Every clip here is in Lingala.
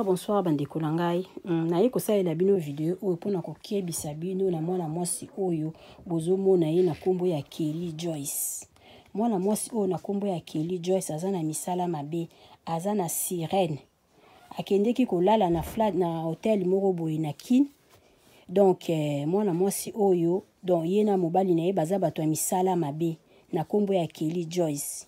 bonsoir bandeko na ngai mm, naye kosalela bino video oyo mpona kokebisa bino na mwana mwasi oyo bozomona ye na nkombo ya kelly joyce mwana mwasi oyo na nkombo ya kelly joyce aza na misala mabe aza na sirene akendeki kolala na, flat, na hotel moko boye na kin donk eh, mwana mwasi oyo don ye na mobali na ye baza bato ya misala mabe na nkombo ya kelly joyce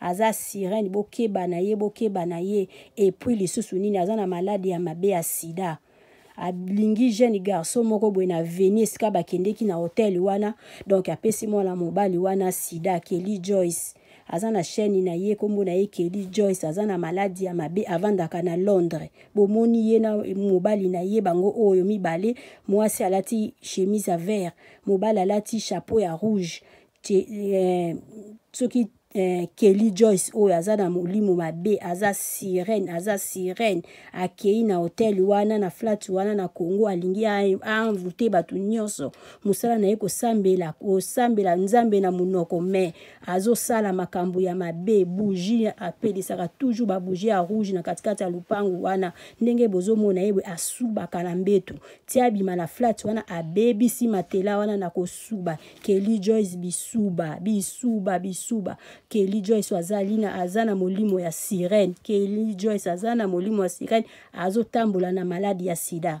aza sirene bokeba na ye bokeba na ye epuis lisusu nini aza na maladi ya mabe ya sida alingi jeune garçon moko boye na veni esika bakendeki na hotel wana donc apesi mwana mobali wana sida kelly joyce aza na chaîne na ye nkombo na ye kelly joyce aza na maladi ya mabe avandaka na londres bomoni ye na mobali na ye bango oyo mibale mwasi alati chemise ya vert mobali alati chapeau ya rouge eh, soki eh, kelly joyce oyo aza na molimo mabe aza sirene aza sirene akei na hotel wana na flat wana na congo alingi aanvoute bato nyonso mosala na ye kosambela kosambela nzambe na monoko mai azosala makambo ya mabe bougie apelisaka toujours babougie ya rouge na katikati ya lopango wana ndenge bozomona ye boye asubaka na mbetu ti abima na flat wana abebisi matela wana na kosuba Kelly Joyce bisuba bisuba bisuba Kelly Joyce azali na aza na molimo ya sirène Kelly Joyce aza na molimo ya sirène azotambola na maladi ya sida